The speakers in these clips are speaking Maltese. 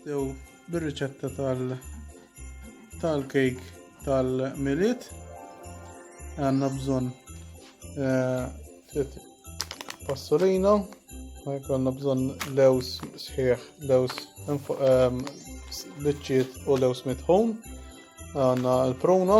Dew bir-riċetta tal tal-kejk tal-miliet għandna bżonn eh, ftit passolino, għandna bżonn lews sħiħ, lews ehm, biċċiet u lews mitħun, għandna l-pruna,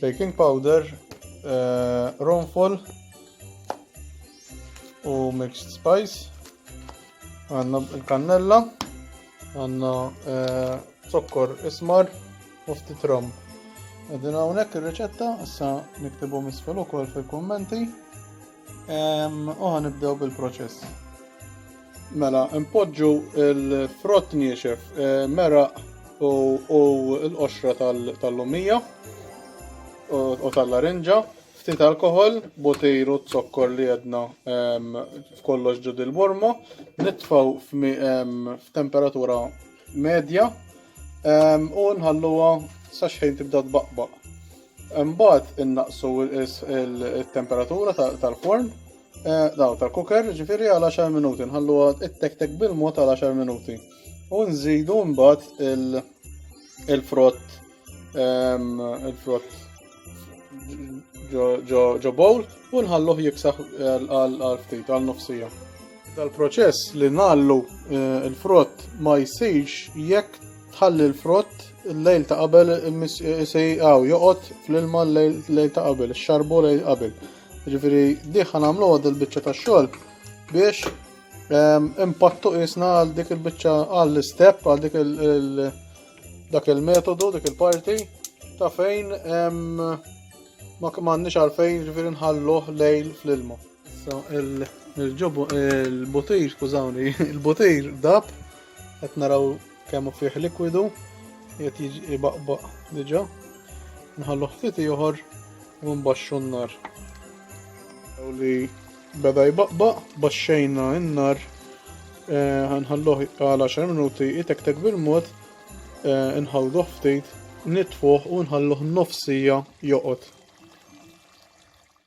Baking powder, uh, ronfol u mixed spice. Għanna il-kannella, għanna uh, zokkor ismar u ftit rom. Għedin għawnek il-reċetta, issa niktibu misfel ukoll fil-kommenti. U ħanibdew bil-proċess. Mela, impoġġu l-frott niexef, eh, meraq u l-qoxra tal-lumija u tal-larinġa, ftit alkohol, botir u zokkor li jedna f'kollox ġud il-burma, nitfaw f'temperatura medja u nħalluha saxħin tibda tbaqbaq. Imbagħad innaqqsu il-temperatura tal-forn, daw tal-cooker, ġifieri għal 10 minuti, nħalluha ittektek bil-mod għal 10 minuti. U nżidu mbagħad il-frott il-frott ġo bowl u nħalluh jiksaħ għal ftit għal nofsija. Dal-proċess li ngħallu eh, l-frott ma jsirx jekk tħalli l-frott l-lejl ta' qabel sejqaw joqgħod fl-ilma l-lejl ta' qabel, xarbu lejl qabel. Ġifieri diħan għamlu għad il-biċċa ta' xogħol biex ehm, impattu isna għal dik il-biċċa għall istep għal dik il- dak il-metodu, dik il-parti ta' fejn ehm, ma kmanni għalfejn ġifieri nħalluh lejl fl-ilma. Issa il-ġobu il-butejr, skużawni, il-butejr dab qed naraw kemm fih likwidu qed jiġi baqbaq diġà. Nħallu ftit ieħor u nbaxxu n-nar. U li beda jbaqbaq, baxxejna n-nar, eh, ħanħalluh għal 10 minuti jitektek bil-mod, eh, nħawduh ftit, nitfuh u nħalluh nofsija joqgħod.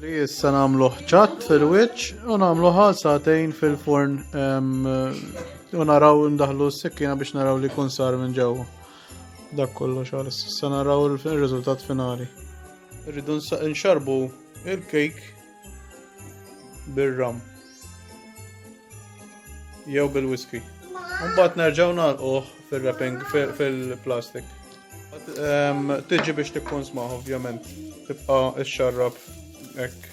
Li issa nagħmlu ċat fil-wiċċ u nagħmluha satejn fil-forn u naraw ndaħlu s-sikkina biex naraw li kun sar minn ġewwa. Dak kollox għal issa naraw il-riżultat finali. Rridu nxarbu il-kejk bir-ram jew bil-whisky. Mbagħad nerġgħu nagħlquh fil-wrapping fil-plastik. Tiġi biex tikkonsma ovvjament tibqa' xxarrab hekk.